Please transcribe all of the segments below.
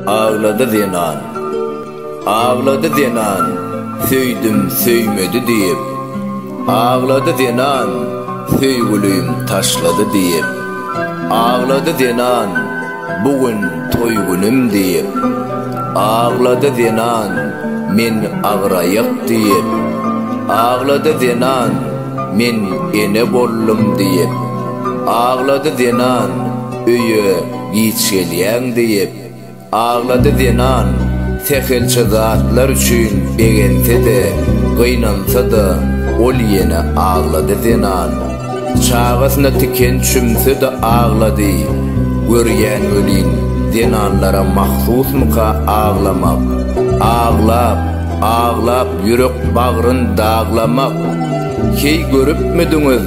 Aglady zenan. Aglady zenan, Söýdüm, söýmedi diýip. Aglady zenan, Söýgülim taşlady diýip. Aglady zenan, Bu gün toý günüm diýip. Aglady zenan, Men agyraýak diýip. Aglady zenan, Men ene boldum diýip. Aglady zenan, Öýe giç gelýäň diýip. Aglady zenan, Sähelçe zatlar üçin begense-de, gynansa-da, ol ýene aglady zenan. Çagasyna tiken çümse-de aglady. Görýän welin, zenanlara mahsusmyka aglamak? Aglap, aglap ýürek bagryn daglamak. Heý görüpmidiňiz,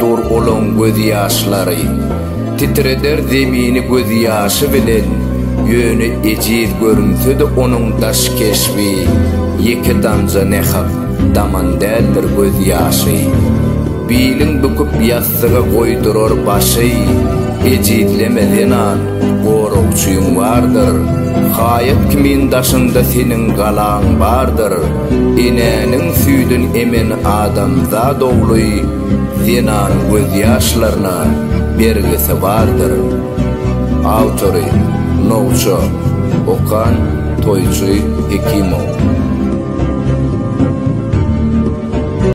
Dur olaň gözýaşlary. Titreder zemini gözýaşy bilen, Ýöne ejiz görünse-de onuň daş keşbi, Ýeke damja ne-hak daman däldir gözýaşy. Bilin büküp ýassyga goýdurar başy, Ejizleme zenan, goragçyň bardyr, Haýat kimin daşyňda seniň galaň bardyr. Enäniň süýdün emen adamzat ogly zenanyň gözýaşlaryna bergisi bardyr. Awtory, Nowça, Okan, Toýçy Hekimow.